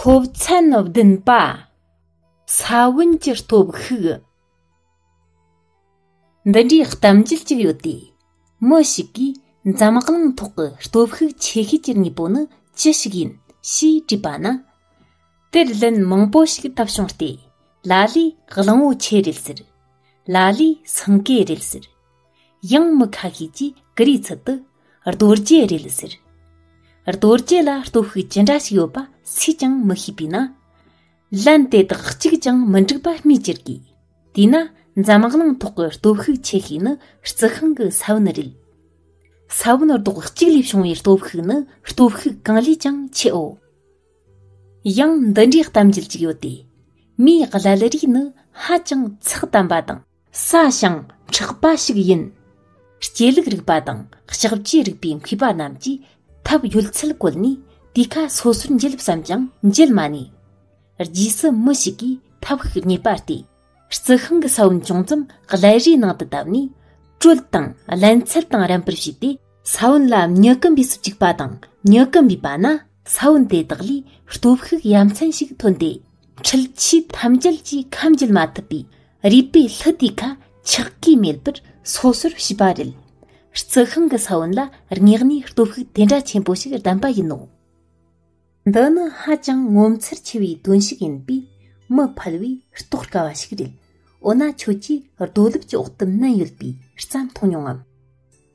སློབ་ཚན་བདུན་པ་ས་བོན་གྱི་སྟོབས་ཤུགས་འདི་འདྲའི་གཏམ་རྒྱུད་ཅིག་ཡོད་དེ། མི་ཞིག་གིས་འཛམ་གླིང་ཐོག་གི་སྟོབས་ཤུགས་ཆེ་ཤོས་ཀྱི་དངོས་པོ་ནི་ཅི་ཞིག་ཡིན་ཞེས་དྲིས་པ་ན། དེར་ལན་མང་པོ་ཞིག་བཏབ་བྱུང་སྟེ་ལ་ལས་གླང་བོ་ཆེ་རེད་ཟེར། ལ་ལས་སེང་གེ་རེད་ཟེར། ཡང་མི་ཁ་ཤས་ཀྱིས་ཀི་རིའི་ཚུལ་དུ་རྡོ་རྗེ་རེད་ཟེར། རྡོ་རྗེ་ལ་སྟོབས་ཤུགས་ཇི་འདྲ་ཞིག་ཡོད་པ་སུས་ཀྱང་མི་ཤེས་པས་ན། ལན། དེ་དག་གཅིག་ཀྱང་མི་འགྲིག་པ་སྨོས་ཅི་དགོས། དེས་ན་འཛམ་གླིང་ཐོག་གི་སྟོབས་ཤུགས་ཆེ་ཤོས་ནི་རྩི་ཤིང་གི་ས་བོན་རེད། ས་བོན་རྡོག་གཅིག་ལས་བྱུང་བའི་སྟོབས་ཤུགས་ནི་སྟོབས་ཤུགས་གང་ལས་ཀྱང་ཆེའོ། ཡང་འདི་འདྲའི་གཏམ་རྒྱུད་ཅིག་ཡོད་དེ། མིའི་བསླུ་རིས་ནི་ཧ་ཅང་ཚགས་དམ་པ་དང། ས་ཞིང་འཁྲེགས་པ་ཞིག་ཡིན། སྐྱེ་ལུགས་རིག་པ་དང་ལྕགས་བྱའི་རིག་པའི་མཁས་པ་རྣམས་ཀྱིས་ཐབས་ཡོད་ཚད་བཀོལ་ནས་དེ་ཁ་སོ་སོར་འབྱེད་བསམས་ཀྱང་འབྱེད་མ་ནུས། རྗེས་སུ་མི་ཞིག་གིས་ཐབས་ཤིག་རྙེད་པར་བལྟས། རྩི་ཤིང་གི་ས་བོན་ཅུང་ཙམ་ཀླད་རིའི་ནང་དུ་བཏབ་ནས་དྲོད་དང་བརླན་ཚད་དང་རན་པར་བྱས་ཏེ། ས་བོན་ལ་མྱུ་གུ་འབུས་སུ་བཅུག་པ་དང་མྱུ་གུ་འབུས་པ་ན་ས་བོན་དེ་དག་ལས་སྟོབས་ཤུགས་ཡ་མཚན་ཞིག་ཐོན་ཏེ། འཁྲུལ་ཆས་ཐམས་ཅད་ཀྱིས་ཁམས་འཇལ་མ་ཐུབ་པའི་རུས་པའི་ལྷུ་དེ་ཁ་འཁྱག་གིས་མེད་པར་སོ་སོར་བྱས་པ་རེད། རྩི་ཤིང་གི་ས་བོན་ལ་སྙེགས་ནས་སྟོབས་ཤུགས་དེ་འདྲ་ཆེན་པོ་ཞིག་ལྡན་པ་ཡིན་ནོ། འདི་ནི་ཧ་ཅང་ངོ་མཚར་ཆེ་བའི་དོན་ཞིག་ཡིན་པས་མི་ཕལ་བས་རྟོགས་དཀའ་བ་ཞིག་རེད། འོ་ན་ཁྱོད་ཀྱིས་རྡོ་ལུག་གི་འོག་ཏུ་སྣུན་ཡོད་པའི་རྩྭ་མཐོང་མྱོང་ངམ།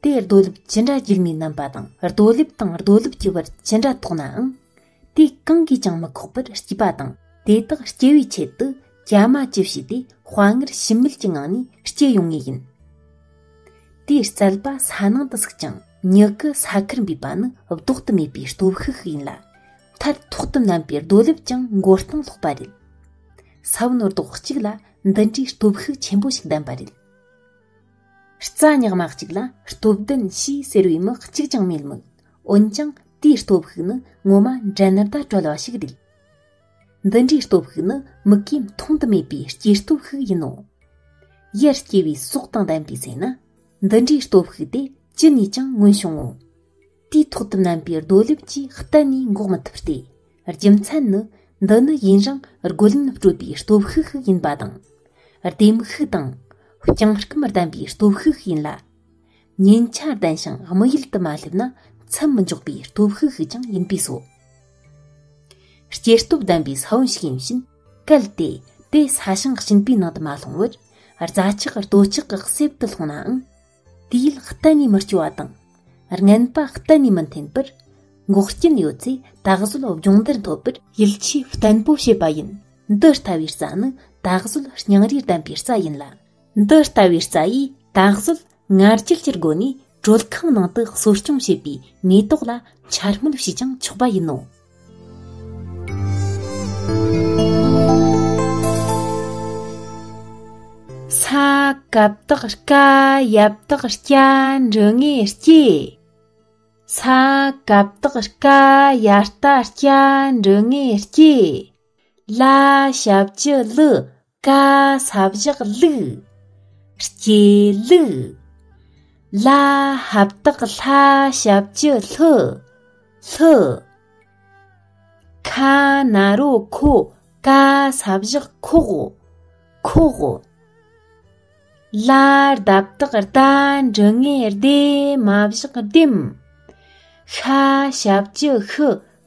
དེས་རྡོ་ལུབ་ཅི་འདྲ་འགྱུར་མིན་རྣམ་པ་དང་རྡོ་ལེབ་དང་རྡོ་ལུབ་ཀྱི་བར་ཅི་འདྲ་དོགས་ནའང། དེ་གང་གིས་ཀྱང་མི་ཁོགས་པར་སྐྱིད་པ་དང་དེ་དག་སྐྱེ་བའི་ཆེད་དུ་གྱ་མ་ཅི་བྱས་ཏེ་དཔའ་ངར་ཞུམ་མེད་ཀྱི་ངང་ནས་སྐྱེ་ཡོང་ངེས་ཡིན། དེའི་རྩལ་པ་ས་ནང་དུ་ཟུག་ཅིང་མྱུ་གུ་ས་ཁར་འབུས་པ་ནི་བཟློག་ཏུ་མེད་པའི་སྟོབས་ཤུགས་ཤིག་ཡིན་ལ། མཐར་ཐོག་ཏུ་བསྣམས་པའི་རྡོ་ལེབ་ཀྱང་མགོ་རྟིང་སློག་པ་རེད། ས་བོན་རྡོག་གཅིག་ལ་འདི་འདྲའི་སྟོབས་ཤུགས་ཆེན་པོ་ཞིག་ལྡན་པ་རེད། རྩ་ཉག་མ་གཅིག་ལ་སྟོབས་ལྡན་ཞེས་ཟེར་བའི་མི་གཅིག་ཀྱང་མེད་མོད་འོན་ཀྱང་དེའི་སྟོབས་ཤུགས་ནི་ངོ་མ་འགྲན་ཟླ་དཀྲོལ་བ་ཞིག་རེད་འདི་འདྲའི་སྟོབས་ཤུགས་ནི་མི་གས་མཐོང་དུ་མེད་པའི་སྐྱེ་སྟོབས་ཤིག་ཡིན་ནོ་ཡར་སྐྱེ་བའི་སྲོག་དང་ལྡན་པའི་ཚེ་ན་འདི་འདྲའི་སྟོབས་ཤུགས་དེ་ཅི་ནས་ཀྱང་མངོན་བྱུང་ངོ་དུས་ཐོག་ཏུ་ནམ་པའི་རྡོ་ལེབ་ཀྱིས་གཏན་ནས་འགོག་མི་ཐུབ་སྟེ་རྒྱུ་མཚན་ནི་འདི་ནི་ཡུན་རིང་རྒོལ་ལན་སྤྲོད་པའི་སྟོབས་ཤུགས་ཤིག་ཡིན་པ་དང་ལྡེམ་ཤུགས་དང་རྐྱང་རྐུམ་ལྡན་པའི་སྟོབས་ཤུགས་ཤིག་ཡིན་ལ། ཉེན་ཆ་ལྡན་ཞིང་དམིགས་ཡུལ་དུ་མ་སླེབས་ན་ཚུར་མི་འཇོག་པའི་སྟོབས་ཤུགས་ཤིག་ཀྱང་ཡིན་པས་སོ། སྐྱེ་སྟོབས་ལྡན་པའི་ས་བོན་ཞིག་ཡིན་ཕྱིན་གལ་ཏེ་དེ་ས་ཞིང་གཅིག་པའི་ནང་དུ་མ་ལྷུང་བར་རྫ་ཆག་རྡོ་ཆག་གི་གསེབ་ཏུ་ལྷུང་ནའང་དུས་ཡུལ་གཏན་ནས་མི་སྐྱོ་བ་དང་རྔན་པ་གཏན་ནས་མི་འཐེན་པར་འགོག་རྐྱེན་ཡོད་ཚེ་ད་གཟོད་སྦྱོང་བརྡར་འཐོབ་པར་ཡིད་ཆེས་བརྟན་པོ་བྱེད་པ་ཡིན། འདི་ལྟ་བུའི་རྩྭ་ནི་ད་གཟོད་སྙིང་རུས་ལྡན་པའི་རྩྭ་ཡིན་ལ། འདི་ལྟ་བུའི་རྩྭ་ཡིས་ད་གཟོད་ངར་སྐྱེལ་གྱི་སྒོ་ནས་དྲོད་ཁང་ནང་དུ་གསོ་སྐྱོང་བྱེད་པའི་མེ་ཏོག་ལ་འཕྱར་སྨོད་བྱས་ཀྱང་ཆོག་པ་ཡིན་ནོ། ས་གབ་དག་སྐ་ཡབ་དག་སྐྱ་འབྲུ་ངེ་སྐྱེ་ས་གབ་དག་སྐ་ཡ་རྟ་སྐྱ་འབྲུ་ངེ་སྐྱེ་ལ་ཞབས་ཀྱི་ལུ་ཀ་ས་བཞག་ལུགས། སྐྱེ་ལུགས། ལ་ཧབ་བཏགས་ལྷ་ཞབས་ཀྱི་ལྷུ། ལྷུ། ཁ་ན་རོ་ཁོ་ཀ་ས་བཞག་ཁོག། ཁོག། ལ་རྡ་བཏགས་རྡ་འབྲུ་ལྔས་ལྡེ་མ་བཞག་ལྡེམ། ཤ་ཞབས་ཀྱི་ཤུ་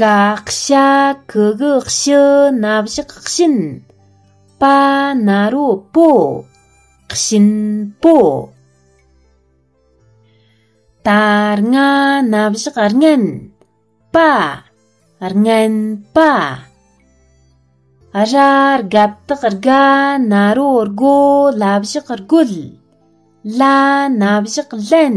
བཀའ་ཤག་གི་གི་ཤི་ན་བཞག་བཞིན་པ་ན་རོ་པོ་བཞིན་པོ་དར་ང་ན་བཞག་རྔན་པ་རྔན་པ་ར་རྒ་བཏག་རྒ་ན་རོ་རྒོ་ལ་བཞག་རྒོལ་ལ་ན་བཞག་ལན